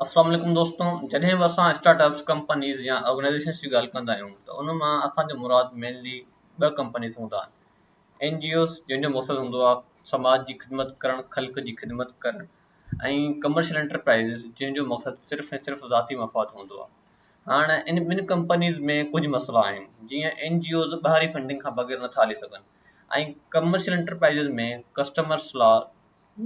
السلام عليڪم دوستو جڏهن به اسان اسٽارٽ اپس ڪمپنيز يا آرگنائزيشنس جي ڳالهه ڪندا آهيون ته ان مان اسان جو مراد مينلي ٻه ڪمپنيز هوندا آهن اين جي اوز جن جو مقصد هوندو آهي سماج جي خدمت ڪرڻ خلق جي خدمت ڪرڻ ۽ ڪمرشل انٽرپرائزز جن جو مقصد صرف ۽ صرف ذاتي مفاد هوندو آهي هاڻ ان ٻن ڪمپنيز ۾ ڪجهه مسئلا آهن جيئن اين جي اوز ٻاهرين فنڊنگ کان بغير نٿا هلي سگهن ۽ ڪمرشل انٽرپرائزز ۾ ڪسٽمرس لا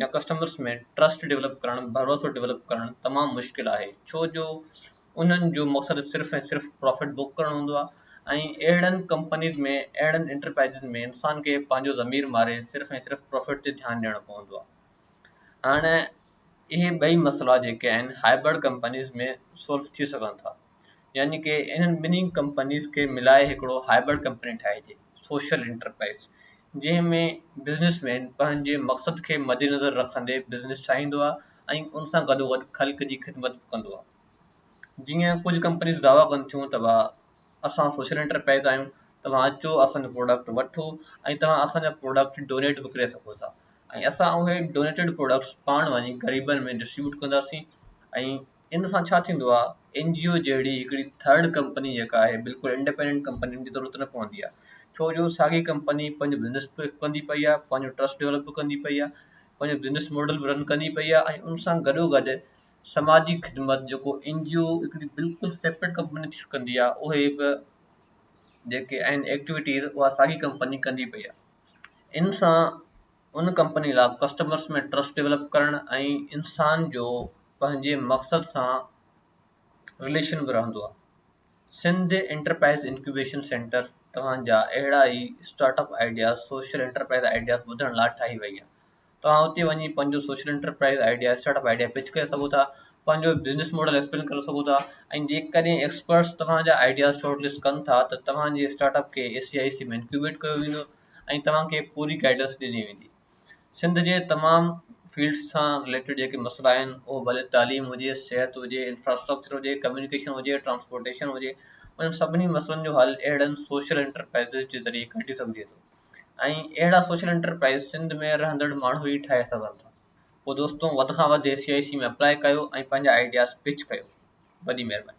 يا ڪسٽمرز ۾ ٽرسٽ ڊولپ ڪرڻ، ڀروسو ڊولپ ڪرڻ تمام مشڪل آهي ڇو جو انهن جو مقصد صرف ۽ صرف پرافٽ بڪ ڪرڻ هوندو آهي ۽ اهڙن ڪمپنيز ۾ اهڙن انٽرپرائزز ۾ انسان کي پنهنجو ضمير ماري صرف ۽ صرف پرافٽ تي ڌيان ڏيڻو پوندو آهي هاڻ اهي ٻئي مسئلا جيڪي آهن هائبرڊ ڪمپنيز ۾ سولف ٿي سگهن ٿا يعني ڪي انهن ٻنهي ڪمپنيز کي ملائي هڪڙو هائبرڊ ڪمپني ٺاهجي، سوشل انٽرپرائيز، جنهن ۾ بزنس مين پنهنجي مقصد کي مدنظر رکندي بزنس ٺاهيندو آهي ۽ ان سان گڏوگڏ خلق جي خدمت به ڪندو آهي. جيئن ڪجهه ڪمپنيز دعويٰ ڪن ٿيون ته ڀا اسان سوشل انٽرپرائيز آهيون توهان اچو اسان جو پروڊڪٽ وٺو ۽ توهان اسان جا پروڊڪٽ ڊونيٽ به ڪري سگهو ٿا ۽ اسان اهي ڊونيٽيڊ پروڊڪٽس پاڻ وڃي غريبن ۾ ڊسٽريبيوٽ ڪنداسين ۽ ان سان ڇا ٿيندو آ اين جي او جهڙي هڪڙي ٿرڊ ڪمپني جيڪا آهي بلڪل انڊپينڊنٽ ڪمپني ان جي ضرورت نه پوندي آ ڇو جو ساڳي ڪمپني پنهنجو بزنس به ڪندي پئي آ پنهنجو ٽرسٽ ڊولپ به ڪندي پئي آ پنهنجو بزنس ماڊل به رن ڪندي پئي آ ۽ ان سان گڏو گڏ سماجي خدمت جيڪو اين جي او هڪڙي بلڪل سيپريٽ ڪمپني ٿي ڪندي آ اهي به جيڪي آهن ايڪٽويٽيز اها ساڳي ڪمپني ڪندي پئي آ ان سان ان ڪمپني لا ڪسٽمرز ۾ ٽرسٽ ڊولپ ڪرڻ ۽ انسان جو پنهنجي مقصد سان رليشن به رهندو آهي سنڌ انٽرپرائز انڪيوبيشن سينٽر توهان جا اهڙا ئي start up ideas social enterprise ideas ٻڌڻ لا ٺاهي وئي آهي توهان اتي وڃي پنهنجو social enterprise idea start up idea pitch ڪري سگهو ٿا پنهنجو بزنس ماڊل ايڪسپلين ڪري سگهو ٿا ۽ جيڪڏهن ايڪسپرٽس توهان جا آئيڊياز شارٽ لسٽ ڪن ٿا ته توهان جي اسٽارٽ اپ کي اي سي آئي سي ۾ انڪيوبيٽ ڪيو ويندو ۽ توهان کي پوري گائيڊنس ڏني ويندي. سنڌ جي تمام فيلڊس سان رليٽيڊ جيڪي مسئلا آهن اهو ڀلي تعليم هجي، صحت هجي، انفراسٽرڪچر هجي، ڪميونيڪيشن هجي، ٽرانسپورٽيشن هجي، انهن سڀني مسئلن جو حل اهڙن سوشل انٽرپرائزز جي ذريعي ڪڍي سگهجي ٿو ۽ اهڙا سوشل انٽرپرائز سنڌ ۾ رهندڙ ماڻهو ئي ٺاهي سگهن ٿا. پوء دوستو وڌ کان وڌ CIC ۾ اپلاء ڪيو ۽ پنهنجا آئيڊياز پچ ڪيو. وڏي مهرباني.